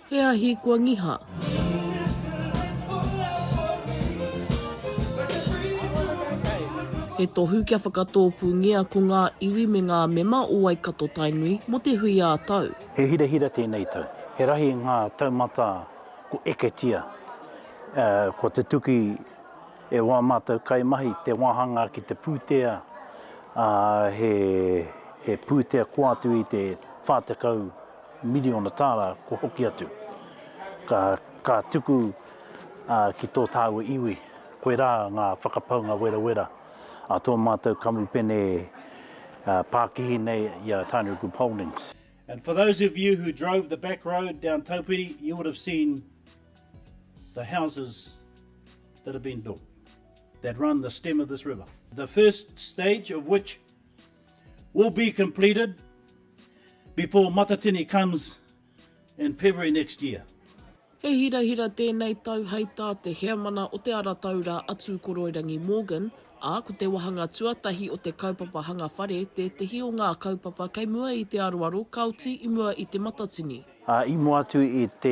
He ahi kua ngiha. He tohu kia whakatōpūngia ko ngā iwi me ngā mema o Waikato-Tainui mō te hui ā-tau. He hirahira tēnei tau. He rahi ngā taumata ko Eketia. Ko te tuki e wā mātou kaimahi, te wāhanga ki te pūtea, he pūtea kō atu i te 40. miriona tāra kua hoki atu, ka, ka tuku ā, ki tō tāua iwi, koirā ngā whakapaunga werawera a tō mātou kamupene ā, pākihi nei i a Tainui Group Holdings. And for those of you who drove the back road down Taupiri, you would have seen the houses that have been built, that run the stem of this river. The first stage of which will be completed before Matatini comes in February next year. He hirahira tēnei tau hei tā te Heamana o Te Ara Taura a Tūkoroirangi Morgan, ā, ko te wāhanga tuatahi o te kaupapa hanga whare tētehi o ngā kaupapa kei mua i te aroaro ka oti i mua i Te Matatini. Ā, i mua atu i te,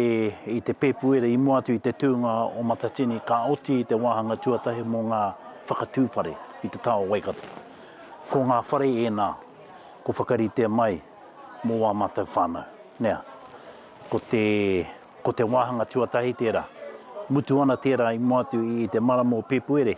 i te Pēpuere, i mua atu i te tūnga o Matatini, ka oti i te wāhanga tuatahi mō ngā whakatū whare i te taha o Waikato. Ko ngā whare ēnā ko whakaritea mai mō ā mātou whānau. Nea, ko te, ko te wāhanga tuatahi tērā. Mutu ana tērā i mua atu i te marama o Pēpuere.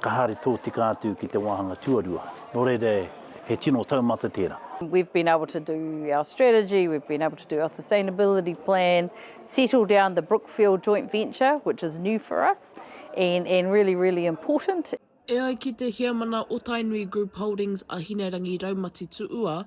Ka haere tōtika atu ki te wāhanga tuarua, nō reira he tino taumata tērā. We've been able to do our strategy, we've been able to do our sustainability plan, settle down the Brookfield joint venture, which is new for us and and really, really important. E ai ki te Heamana o Tainui Group Holdings a Hinerangi Raumati Tuua,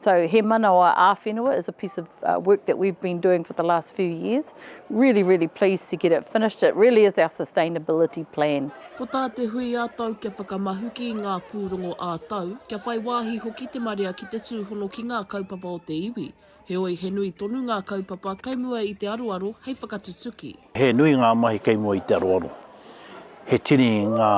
So He Manawa Āwhenua is a piece of uh, work that we've been doing for the last few years. Really, really pleased to get it finished. It really is our sustainability plan. Ko tā te hui ā-tau kia whakamahuki i ngā pūrongo ā-tau, kia whai wāhi hoki te marea ki te tūhono ki ngā kaupapa o te iwi. Heoi he nui tonu ngā kaupapa kei mua i te aroaro hei whakatutuki. He nui ngā mahi kei mua i te aroaro. He tini ngā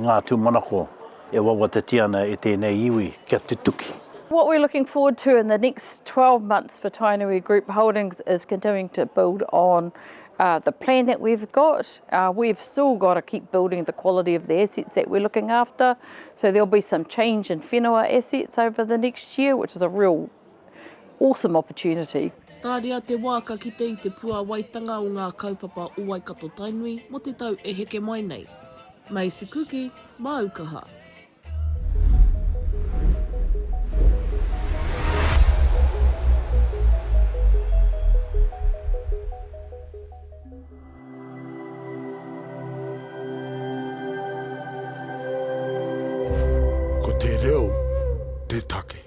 ngā tūmanako e wawatatia ana e tēnei iwi kia tutuki. What we're looking forward to in the next 12 months for Tainui Group Holdings is continuing to build on the plan that we've got. We've still got to keep building the quality of the assets that we're looking after, so there'll be some change in whenua assets over the next year, which is a real awesome opportunity. Tāria te wā ka kite i te puāwaitanga o ngā kaupapa o Waikato-Tainui mō te tau e heke mai nei. Macy Kuki, māu kaha. Ko te reo te take.